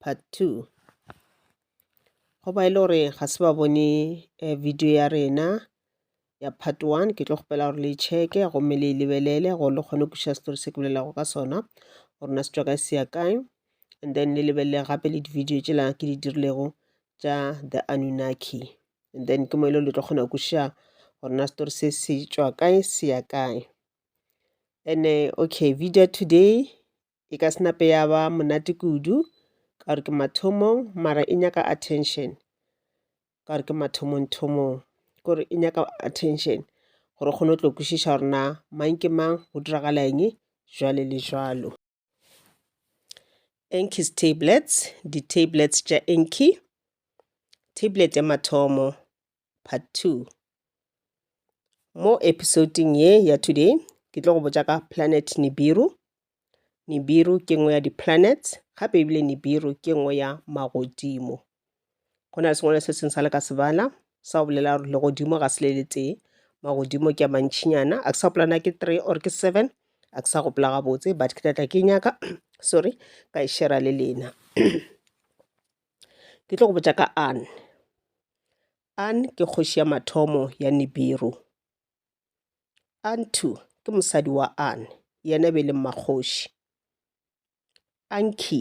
part two go ba e le gore ga se ba bone eh, video ya rena ya part one ke tlo kgopela gore le checke gomme le e lebelele gore le kgone kuša story se ke bolelago ka sona gore na se tswa kae se ya kae and then le lebelele gape le di-video tsela ke di dirilego tša the anunaki and then ke mo e le le tlo kgona kuša gore na story se se tswa kae se ya kae and uh, okay video today e ka se nape ya ba monate kudu ka gore ke mathomong mara e nyaka attention ka gore ke mathomong thomong kore e nyaka attention gore o kgone go tlo kwešiša gore na mang ke mang go diragala eng jwale le jwalo enkies tablets di-tablets tša enki tablet ya mathomo part 2 mo episoding ye ya today ke tlo go botša ka planet nibiru nibiru ke nngwe ya di-planet gape ebile nibiru ke nngwe ya magodimo go na le sengwalo se seng sa le ka sebala sa go bolela gore legodimo ga se le le tee magodimo ke a mantšhinyana a ke sa gopolana ke three or ke seven a ke sa gopola gabotse but ke tlatla ke nyaka sorry ka e shera le lena Ke tlo go botša ka An. An ke kgoši ya mathomo ya Nibiru. Antu ke mosadi wa An, yena e be e le mmakgoši. Anki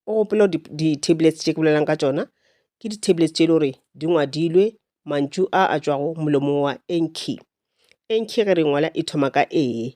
o gopela di-tablets tše ke bolelang ka tšona ke di-tablets tše e le gore di ngwadilwe mantšu a a tšwago molomong wa enki enki ge re ngwala e thoma ka ee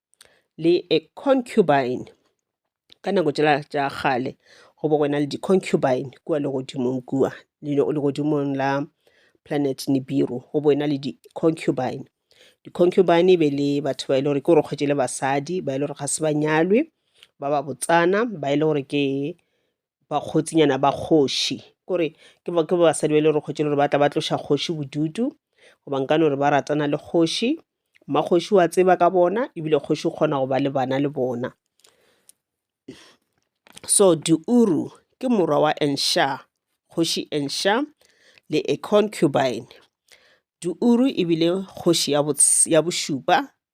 le a concubine ka nako tšela tša kgale go bo go ena le di concubine kua legodimong kua legodimong la planet Nibiru go bo ena le di concubine. Di concubine e be le batho ba e le gore ke gore kgwetši le basadi ba e le gore ga se ba nyalwe ba ba botsana ba e le gore ke bakgotsinyana ba kgoši kore ke basadi ba e le gore kgotši le gore ba tla ba tloša kgoši bodutu goba nkane gore ba ratana le kgoši mmakgoši wa tseba ka bona ebile kgoši o kgona go ba le bana le bona so diuru ke morwa wa ensha kgoši ensha le a concubine diuru ebile kgoši ya bošupa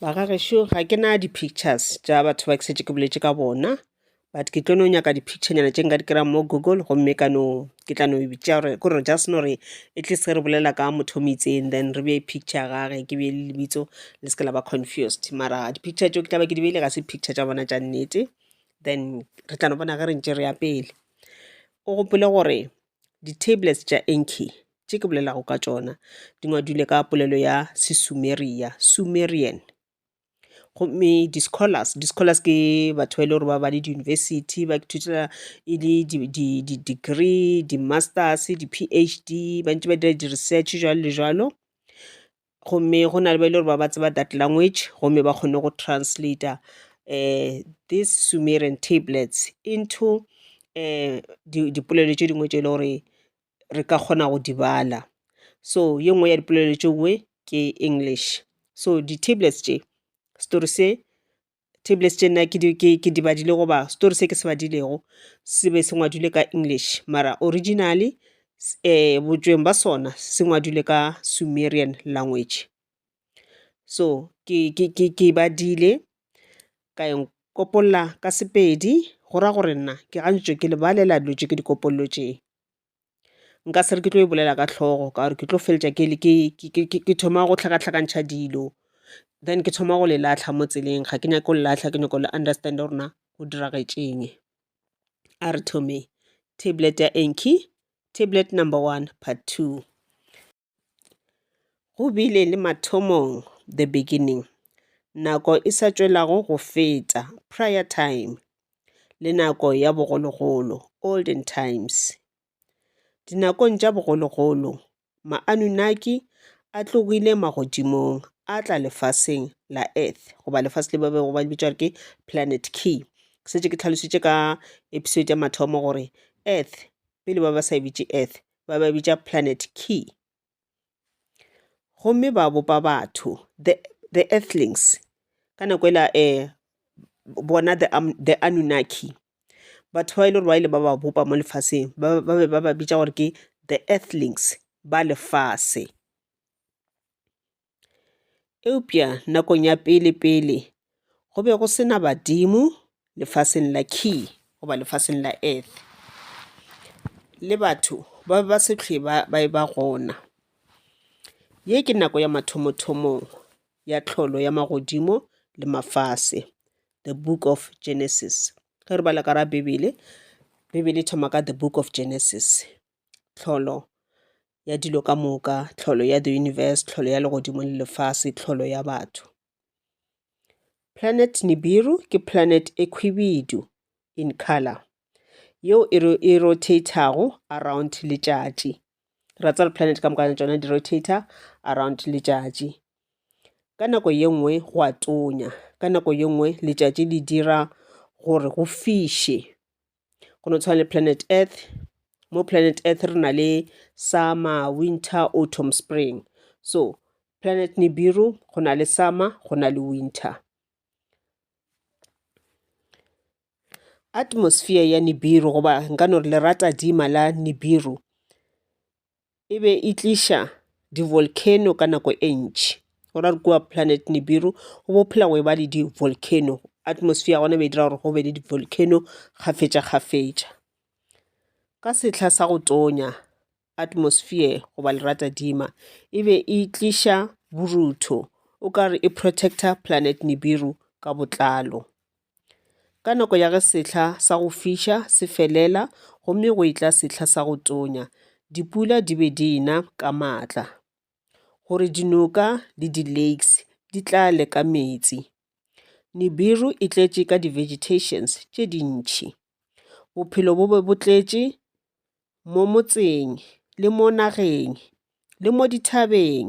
ba ga gešo ga ke na di-pictures tša batho ba ke setse ke boletše ka bona but ke tlo no nyaka di-picturenyana tše nka di kry-ang mo google gomme ka no ke tla no bitša gore ko re just no re at least ge re bolela ka motho o mo itseng then re bee picture ya gage ke bee le lebitso le se ke la ba confused mara di-picture tšeo ke tla ba ke di beile ga se picture tša bona tša nnete then re tla no bona ge re ntše re ya pele o gopole gore Di-tablets tša Enki, tše ke bolelago ka tšona, di ngwadilwe ka polelo ya Sesumeria, Sumerian. Gomme di-scholars, di-scholars ke batho ba e le gore ba ba le di-university, ba ithutela e le di-degree, di-masters, di-P_H_D, ba ntše ba dira di-research, jwalo le jwalo. gomme go na le ba e le gore ba ba tseba that language gomme ba kgone go translator um this sumerian tablets into um dipolelo tše dingwe tše e le gore re ka kgona go di bala so ye nngwe ya dipolelo tše dingwe ke english so di-tablets tše, setori se tablets tše nna ke di ke ke di badile goba story se ke se badilego se be se ngwadilwe ka English mara originally botšweng ba sona se ngwadilwe ka Sumerian language. So ke ke ke ke e badile ka e nkopolola ka Sepedi go ra gore nna ke gantši ke lebalela dilo tše ke di kopolotšego. nka se re ke tlo e bolela ka hlogo ka gore ke tlo feleletša ke thoma go hlakahlakantšha dilo then ke thoma go le latlha mo tseleng ga ke nyake go le latlha ke nyako le understand gore na go diragetšeng a re thomeng tablet ya tablet number one part two. Go bile le mathomong, the beginning, nako e sa tšwelago go feta, prior time, le nako ya bogologolo, olden times. Dinakong tša bogologolo, ma-Anunnaki a tlogile magodimong a tla lefaseng la Earth goba lefase le ba bego ba le bitša gore ke Planet Ki. Ke šetše ke tlhalositše ka episode ya mathomo gore Earth, pele ba ba sa e bitše Earth, ba ba bitša planet key gomme ba bopa batho the the earthlings ka nako e la bona the the Anunnaki batho ba e le gore ba ile ba ba bopa mo lefaseng ba be ba ba bitša gore ke the earthlings ba lefase. Eupša nakong ya pele-pele go be go se na badimo lefaseng la Ki goba lefaseng la Earth, le batho ba be ba se hlwe ba e-ba gona. Ye ke nako ya mathomo-thomo ya tlholo ya magodimo le mafase, The Book of Genesis. Ge re bala ka ga Bibele, Bibele e thoma ka The Book of Genesis, Tlholo ya dilo ka moka, tlholo ya the universe, tlholo ya legodimo le lefase, tlholo ya batho. Planet Nibiru ke planet e khwibidu in color yeo e, ro e rotathago around letšatši ra tsare planet ka mokana tšona di rotator around letšatši ka nako ye nngwe go a tonya ka nako ye nngwe letšatši le dira gore go fiše go no tshwana le planet earth mo planet earth re na le summer winter autumn spring so planet nibiru go na le summer go na le winter atmosphere ya nibiru goba nka no re lerata dima la nibiru e be e tliša di-volcano ka nako e ntši go ra re kua planet nibiru go bo phela go e ba le di-volcano atmosphere ya gona e be e dira gore go be le di-volcano kgafetša kgafetša. Ka sehla sa go tonya atmosphere goba leratadima e be e tliša borutho o ka re e protect-a planet nibiru ka botlalo. Ka nako ya ge sehla sa go fiša se felela gomme go etla sehla sa go tonya, dipula di be di na ka matla gore dinoka le di-lakes di tlale ka meetse. Nibiru e tletše ka di-vegetations tše dintši. Bophelo bo be bo tletše mo motseng le mo nageng le mo dithabeng.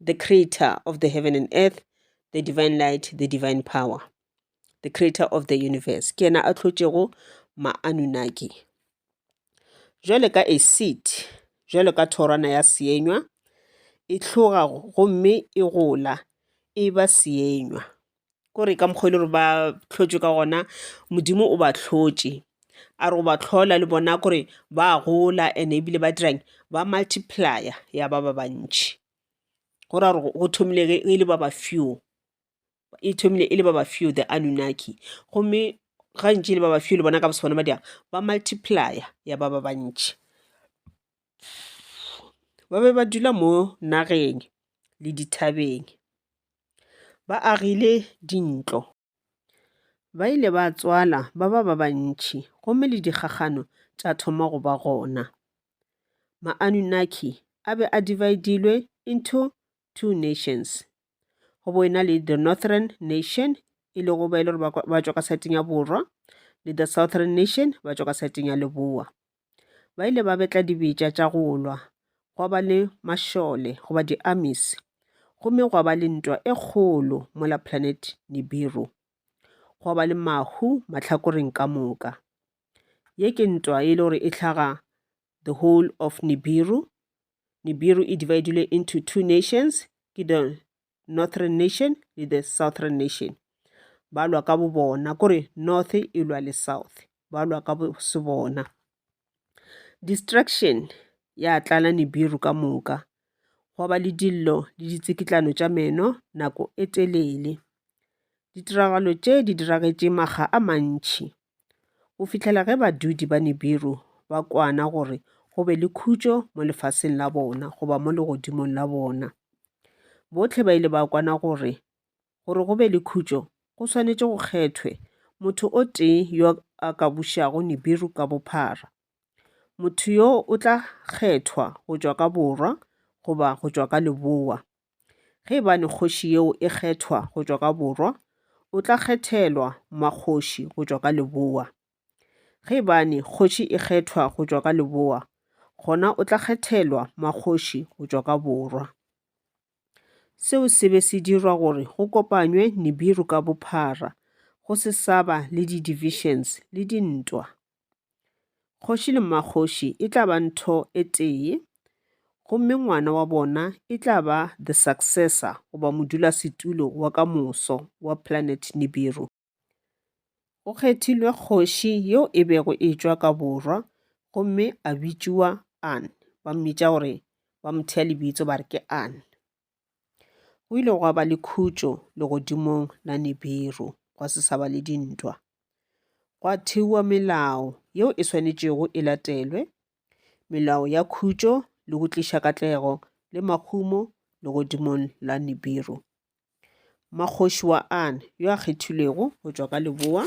the creator of the heaven and earth the divine light the divine power the creator of the universe ke yena a tlhotšego maanunaki jwale ka a seed jwalo ka thorwana ya seenywa e tlhoga gomme e gola e ba seenywa ko re ka mokgwa e le gore ba hlotšwe ka gona modimo o ba hlotše a re o ba hlola le bona kore ba gola and ebile ba dirang ba multiplyer ya ba ba bantši go ra gore go thomile e le ba ba few e thomile e le ba ba few the Anunnaki gomme gantši e le ba ba few le bona ka bosona ba dirang ba multiplyer ya ba ba bantši. ba be ba dula mo nageng le dithabeng. Ba agile dintlo, ba ile ba tswala ba ba ba bantši gomme le dikgakgano tša thoma go ba gona. Ma-Anunnaki a be a dividilwe into two nations, go bo ena le the Northern nation e lego ba e le gore ba tšwa ka side-eng ya borwa le the Southern nation ba tšwa ka side-eng ya leboa. Ba ile ba betla dibetša tša go lwa, gwa ba le mašole goba di-armies, gomme gwa ba le ntwa e kgolo mola planet Nibiru. Gwa ba le mahu mahlakoreng ka moka. Ye ke ntwa e le gore e hlaga the whole of Nibiru. Nibiru e dividilwe into two nations, ke the northern nation le the southern nation ba lwa ka bo bona kore north e lwa le south ba lwa ka bo se bona distraction ya tlala nibiru ka moka gwa ba le dillo le ditsikitlano tša meno nako e telele ditiragalo tše di diragetše makga a mantšhi go fihlela ge badudi ba Nibiru ba kwana gore go be le khutšo mo lefaseng la bona goba mo legodimong la bona. Bohle ba ile ba kwana gore gore go be le khutšo go swanetše go kgethwe motho o tee yo a ka bušago Nibiru ka bophara. Motho yo o tla kgethwa go tšwa ka borwa goba go tšwa ka leboa. Ge e ba le kgoši yeo e kgethwa go tšwa ka borwa, o tla kgethelwa makgoši go tšwa ka leboa. Ge e ba ne kgoši e kgethwa go tšwa ka leboa, gona o tla kgethelwa makgoši go tšwa ka borwa. Seo se be se dirwa gore go kopanywe Nibiru ka bophara, go se sa ba le di-divisions le dintwa. Kgoši le mmakgoši e tla ba ntho e tee, gomme ngwana wa bona e tla ba the successor goba modulasetulo wa ka moso wa planet Nibiru. Go kgethilwe kgoši yeo e bego e tšwa ka borwa gomme a bitšiwa An, ba mmitša gore ba mo thea lebitso ba re ke An. Go ile gwa ba le khutšo legodimong la Nibiru, gwa se sa ba le dintwa. Gwa thewa melao yeo e swanetšego e latelwe, melao ya khutšo le go tliša katlego le mahumo legodimong la Nibiru. Makgoši wa An yo a kgethilwego go tšwa ka leboa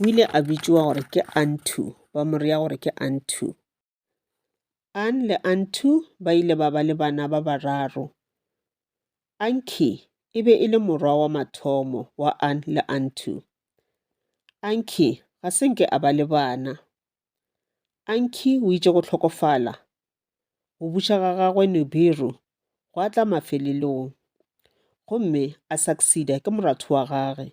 o ile a bitšwa gore ke Antu, ba mo rea gore ke Antu. Ann le Antu ba ile ba ba le bana ba bararo. Anki e be e le morwa wa mathomo wa Ann le Antu. Anki ga se nke a ba le bana. Anki o itše go hlokofala go buša ga gagwe Nibiru gwa tla mafelelong gomme a succeeda ke moratho wa gage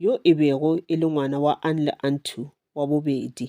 yo e bego e le ngwana wa Ann le Antu wa bobedi.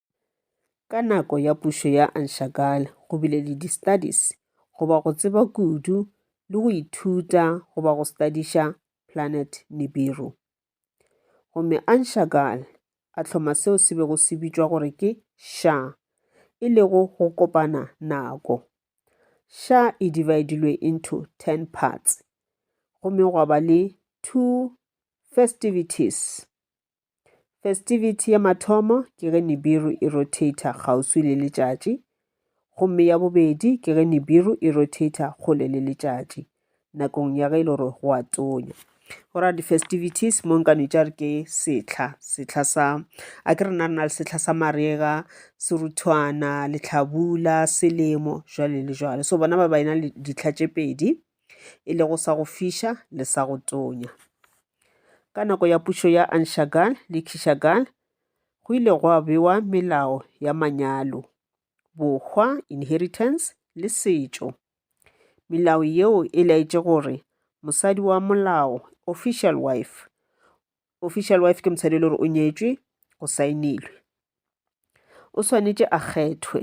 Ka nako ya pušo ya Anshagala go bile le di-studies goba go tseba kudu le go ithuta goba go stadiša planet Nibiru. Gomme Anshagala a hloma seo se bego se bitšwa gore ke Sha, e lego go kopana nako. Sha e dividilwe into 10 parts gomme gwa ba le two festivities Festivity ya mathomo ke ge Nibiru e rotator kgauswi le letšatši, gomme ya bobedi ke ge Nibiru e rotator kgole le letšatši nakong ya ge e le gore go a tonya. Go ra di-festivities mo nka nitša re ke setlha setlha sa a ke rena re na le setlha sa marega seruthwana letlhabula selemo jwale le jwale so bona ba ba ena le ditlha tše pedi e lego sa go fiša le sa go tonya. Ka nako ya pušo ya Anshagal le Kishagal, go ile gwa bewa melao ya manyalo, bohwa, inheritance, le setšo. Melao yeo e laetše gore mosadi wa molao, official wife, official wife ke mosadi e le gore o nyetšwe go saenilwe, o swanetše a kgethwe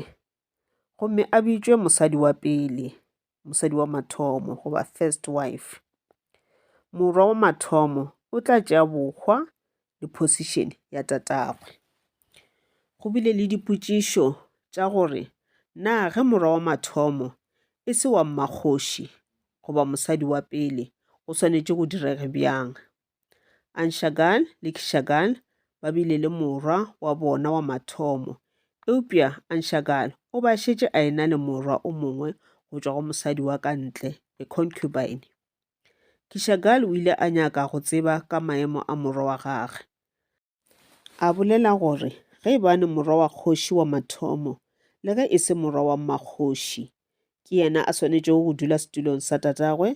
gomme a bitšwe mosadi wa pele mosadi wa mathomo goba first wife morwa wa mathomo o tla tšea bokgwa le position ya tatagwe go bile le dipotšišo tša gore na ge morwa wa mathomo e se wa mmakgoši goba mosadi wa pele go swanetše go direge bjang Anshagan le Kishagan ba bile le morwa wa bona wa mathomo, eupša Anshagan o ba šetše a ena le morwa o mongwe go tšwa go mosadi wa ka ntle, a concubine. Kishagan o ile a nyaka go tseba ka maemo a morwa wa gagwe. A bolela gore ge e bane morwa wa kgoši wa mathomo, le ge e se morwa wa mmakgoši, ke yena a swanetšego go dula setulong sa tatagwe,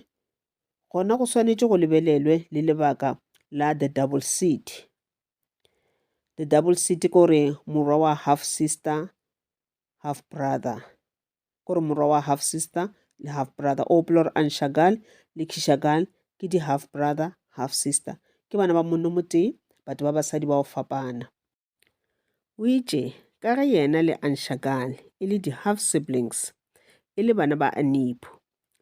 gona go swanetše go lebelelwe le lebaka la the double seat. The double seat ke gore morwa wa half-sister half brother kore morwa wa half sister le half brother o gopola gore anshagal le kishagal ke di half brother half sister ke bana ba monno motee batho ba basadi ba go fapana o itše ka ge yena le anshagal e le di half siblings e le bana ba anipho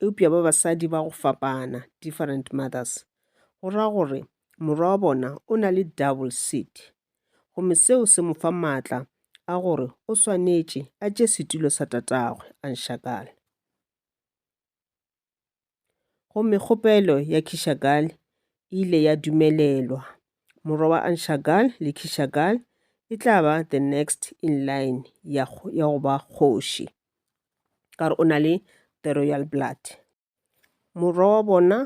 eupša ba basadi ba go fapana different mothers go ra gore morwa wa bona o na le double seat gomme seo se mo fa maatla a gore o swanetše a tše setulo sa tatagwe a nšakale. Gomme kgopelo ya Kishagal e ile ya dumelelwa. Morwa wa Anshagal le Kishagal e tla ba the next in line ya go ba kgoši, ka gore o na le the royal blood. Morwa wa bona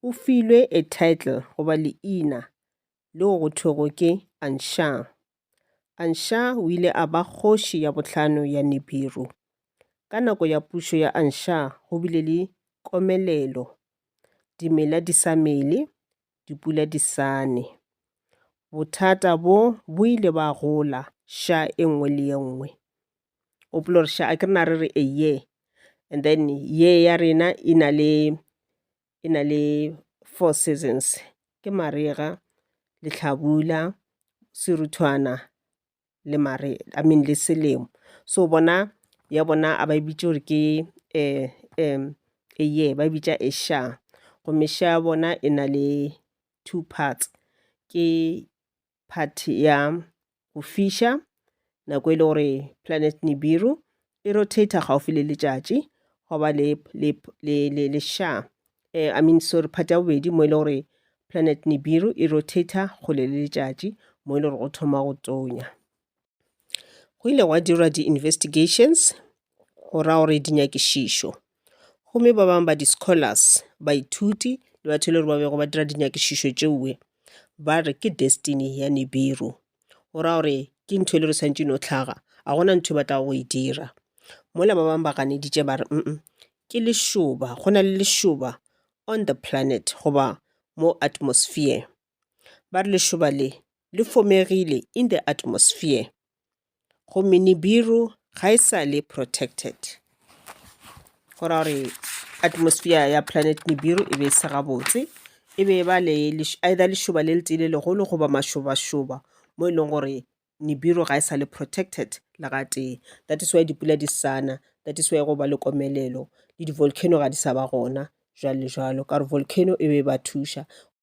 o filwe a title goba leina leo go thwego ke Ansha. Ansha o ile a ba kgoši ya bohlano ya Nibiru. Ka nako ya pušo ya Ansha go bile le komelelo, dimela di sa mele, dipula di sa ne. Bothata bo bo ile ba gola xa e nngwe le e nngwe. o polo re a ke re na re re eye and then ye ya rena e na le e na le four seasons ke marega lehlabula seruthwana le mare I mean le selemo so bona ya bona a ba e bitše gore ke eye ba e bitša gomme ya bona e na le two parts ke part ya go fiša nako e le gore planet nibiru e rotator gaufi le letšatši go ba le, le, le, le, le sha eh, i mean sorry part ya bobedi mo e le gore planet nibiru e rotator kgole le letšatši mo e le gore go thoma go tonya Go ile gwa dirwa di-investigations go ra gore dinyakišišo, gomme ba bangwe ba di-scholars, baithuti le batho e le gore ba bego ba dira dinyakišišo tšeue ba re ke destiny ya Nibiru. Go ra gore ke ntho e le gore e swanetše e no hlaga, ga gona ntho e ba tlago go e dira. Mola ba bangwe ba ganeditše ba re ke lešoba, go na le lešoba on the planet goba mo atmosphere. ba re lešoba le le fomegile in the atmosphere gomme nibiru ga e sa le protected go ra gore atmosphere ya planet nibiru e be e se gabotse e be e ba le either lešoba le le tee le legolo goba mašobašoba mo e leng gore nibiru ga e sa le protected le ga tee that is why dipula di sana that is why go ba le komelelo le di-volcano ga di sa ba gona jwalo le jwalo ka gore volcano e be e ba thuša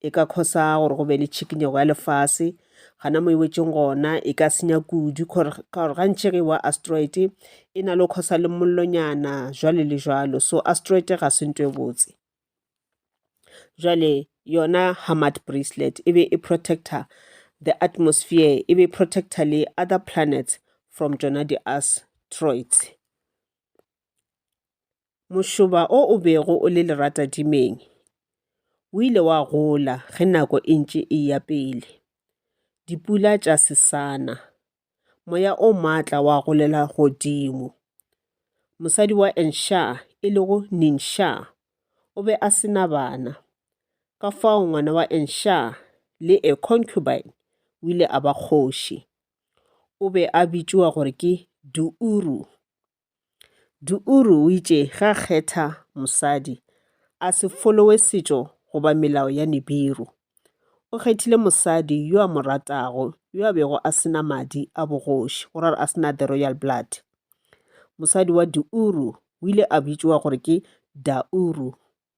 e ka khosa gore go be le tšhikinyego ya lefase gana mo e wetšeng gona e ka senya kudu ka gore gantši ge wa asteroid e na le go khosa le mollonyana jwale le jwalo so asteroid ga se nto e botse jwale yona hamad bracelet e be e protector the atmosphere e be e protector le other planets from tsona di-asteroids Mošoba o o bego o le leratadimeng o ile wa gola ge nako e ntše e ya pele. Dipula tša sesana, moya o maatla wa golela godimo. Mosadi wa Ensha e lego Ninsha o be a se na bana. Ka fao ngwana wa Ensha le a concubine o ile a ba kgoši. O be a bitšoa gore ke Duuru. Diuru o itše ge a kgetha mosadi a se folowe setšo goba melao ya Nibiru. O kgethile mosadi yo a mo ratago yo a bego a se na madi a bogoši, go ra gore a se na the royal blood. Mosadi wa Diuru o ile a bitšoa gore ke Dauru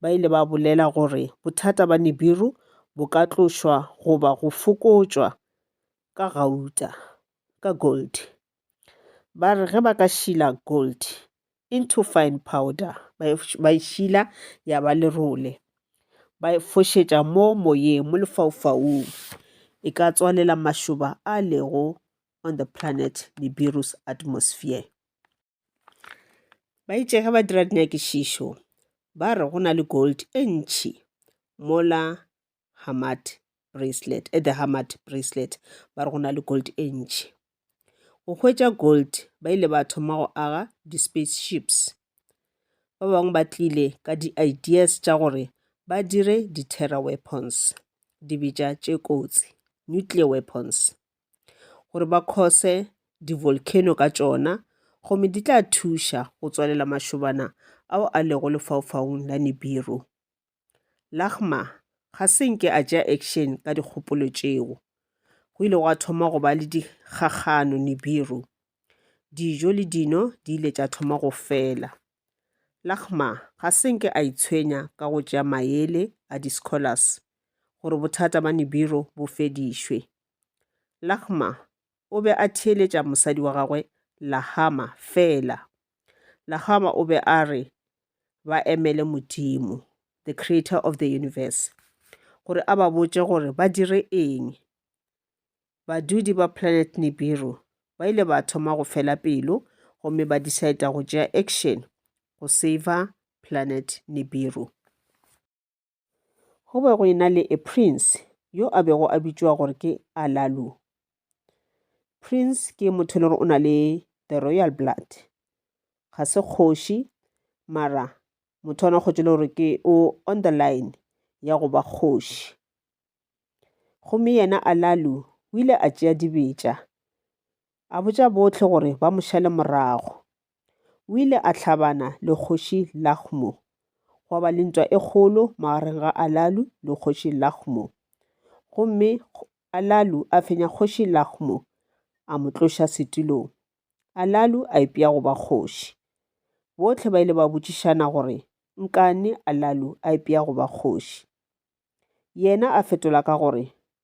Ba ile ba bolela gore bothata ba Nibiru bo ka tlošwa goba go fokotšwa ka gauta, ka gold. Ba re ge ba ka šila gold into fine powder, ba e šila ya ba lerole, ba e fošetša mo moyeng, mo lefaufaung, e ka tswalela mašoba a lego on the planet Nibiru's atmosphere. ba itše ge ba dira dinyakišišo ba re go na le gold e ntšhi mola hamad bracelet at eh, the hamad bracelet ba re go na le gold e ntšhi go hwetša gold ba ile ba thoma go aga di-space ships ba bangwe ba tlile ka di-ideas tša gore ba dire di-terror weapons dibetša tše kotsi nuclear weapons gore ba cause di-volcano ka tšona gomme di tla thuša go tswalela mašobana ao a lego lefaufaung la Nibiru. Lagma ga se nke a tšea action ka dikgopolo tšeo. Go ile gwa thoma go ba le dikgakgano Nibiru. Dijo le dino di ile tša thoma go fela. Lagma ga se nke a itshwenya ka go tšea maele a di-scholars gore bothata ba Nibiru bo fedišwe. Lahma o be a theeletša mosadi wa gagwe Lahama fela. Lahama o be a re ba emele Modimo, the creator of the universe, gore a ba botše gore ba dire eng. Badudi ba planet Nibiru ba ile ba thoma go fela pelo gomme ba decide go tšea action go saver planet Nibiru. Go be go ena le a prince yo a bego a bitšwa gore ke Alalu. Prince ke motho le gore o na le the royal blood, ga se kgoši mara motho ona kgotse le gore ke o on the line ya go ba kgoši gomme yena alalu o ile a tšea dibetša a botša bohle gore ba mo šale morago. O ile a hlabana le kgoši Lahmo. Gwa ba le ntwa e kgolo magareng ga Alalu le kgoši Lahmo. Gomme Alalu a fenya kgoši Lahmo, a mo tloša setilong. Alalu a ipea go ba kgoši. Bohle ba ile ba botšišana gore nkane Alalu a ipea go ba kgoši. Yena a fetola ka gore,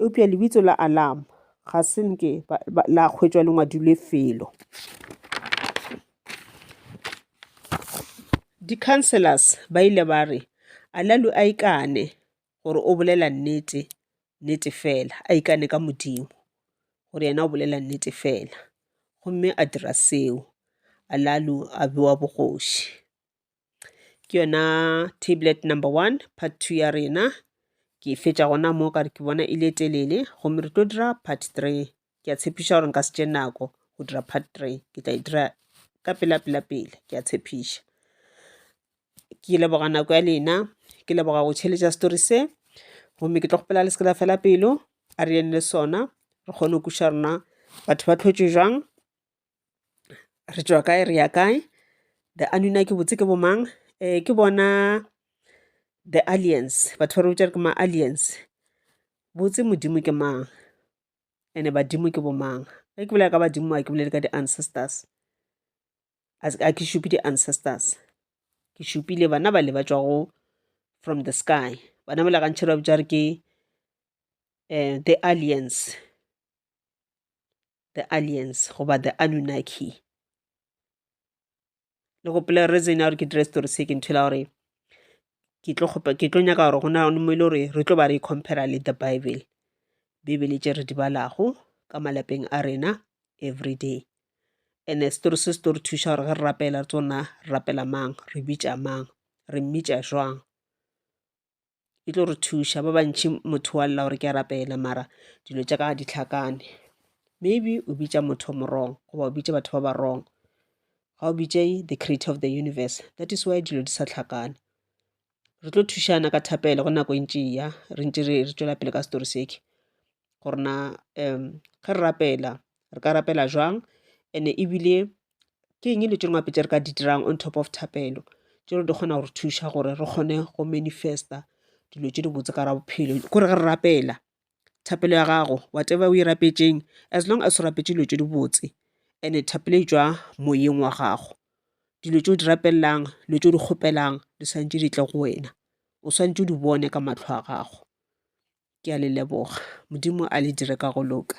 eupša lebitso la alarm ga se nke la hwetšwa le ngwadilwe felo di-councellors ba ile ba re alalu a ikane gore o bolela nnete nnete fela a ikane ka modimo gore yena o bolela nnete fela gomme a dira seo alalu a bewa bogoši ke yona tablet number one part two ya rena ke e fetša gona mo ka re ke bona e le e telele gomme re tlo dira part three ke a tshepiša gore nka se tše nako go dira part three ke tla e dira ka pela pela pele ke a tshepiša ke leboga nako ya lena ke leboga go tšheletša story se gomme ke tlo kgopela le seke la fela pelo a re yene le sona re kgone go kuša rona batho ba tlhotšwe jwang re tšwa kae re ya kae the anunnaki botse ke bomang um ke bona the alliance batho ba re botša re ke ma-alliance botse modimo ke mang and-e badimo ke bomang ge ke bolela ka badimo ga ke bolele ka di-ancestors ga ke šupe di-ancestors ke šupile bana bale ba tšwago from the sky bana bale gantšha ba bitša re ke um the alliance. the aliens goba the anunnaki le gopela reason ya gore ke dire story se ke ntho la gore ke tlo kgopa ke tlo nyaka gore go na mo e le gore re tlo ba re e compara le the bible bibele tše re di balago ka malapeng a rena every day and story se se tlo re thuša gore ge re rapela tsona re rapela mang re bitša mang re mmitša jwang e tlo re thuša ba bantši motho wa lla gore ke a rapela mara dilo tša ka ga di tlhakane maybe o bitša motho mo wrong goba o bitše batho ba ba wrong ga o bitše the creator of the universe that is why dilo di sa tlhakane re tlo thušana ka thapelo go nako e ntši e ya re ntše re tšwela pele ka story seke gore na um ge re rapela re ka rapela jwang and-e ebile ke eng dilo tše dingwe gape tše re ka di dirang on top of thapelo tše di kgona go re thuša gore re kgone go manifesta dilo tše di botse ka ra bophelo ke gore ge re rapela thapelo ya gago whatever o e rapetšeng as long as o rapetše dilo tše di botse and-e thapelo e tšwa moyeng wa gago dilo tše o di rapelelang dilo tše o di kgopelang di swantšwe di tle go wena o swantšwe o di bone ka matlho a gago ke a le leboga modimo a le dire ka go loka.